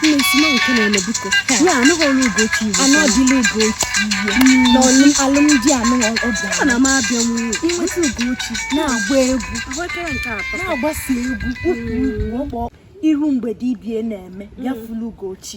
Mmesima nke na-eme biko ya anụghị ọrụ Ugochi iwu anụ ọdịla Ugochi iwu na ọnụ alụmdi anụ ọbịa ana m abịa nwunye inweta Ugochi na-agba egwu na-agbasa egwu ukwu ukwu ọkpọ iru mgbede ibie na-eme ya fulu Ugochi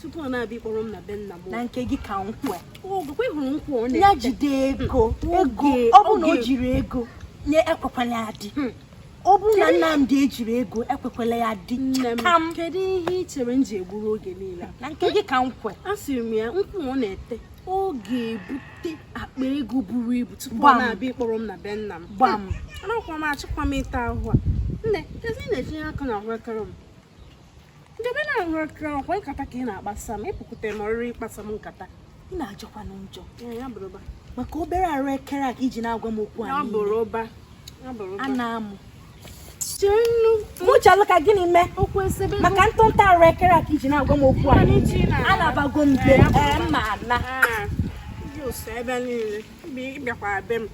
tupu ọ na-abịa ịkpọrọ m na be nna m na nke gị ka m kwe ogwekwe hụrụ nkwụ ọ na-eche ya jide ego ego ọ bụ na o jighi ego nne ekwekwala ya di hmm. ọ bụrụ na Nnamdi ejighi ego ekwekwala ya di chakam kedu ihe ị chere m ji egburu oge niile na nke gị ka m kwe asịrị m ya nkwụ ọ na-ete ọ ga-ebute akpa ego buru ibu tupu ọ na-abịa ịkpọrọ m na be nna m gbam hmm. anakwa m achọkwa m ịta ahụ a nne kezi ị na-etinye aka na ahụekere m ndebe na nkwa nkata ka ị na-akpasa m ịpụkwute m ọrịrị ịkpasa m nkata ị na-ajọkwanụ njọ maka obere arụ ekere a ka i ji na-agwa m okwu a a na-amụ mụchalụ ka gịnị mee maka ntụnta arụ ekere a ka i ji na-agwa m okwu a anabago m be m na ebe niile ị bịakwa be m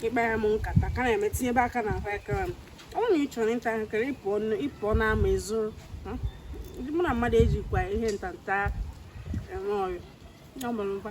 ịkpara m nkata ka na-eme tinyebe aka na ahụekere m ọ bụrụ na ị chọrọ ịta ahụekere ị pụọ n'ama je zụrụ hmm? mụ na mmadụ ejikwa ihe ntanta eme ọyị ọ mụrụ mba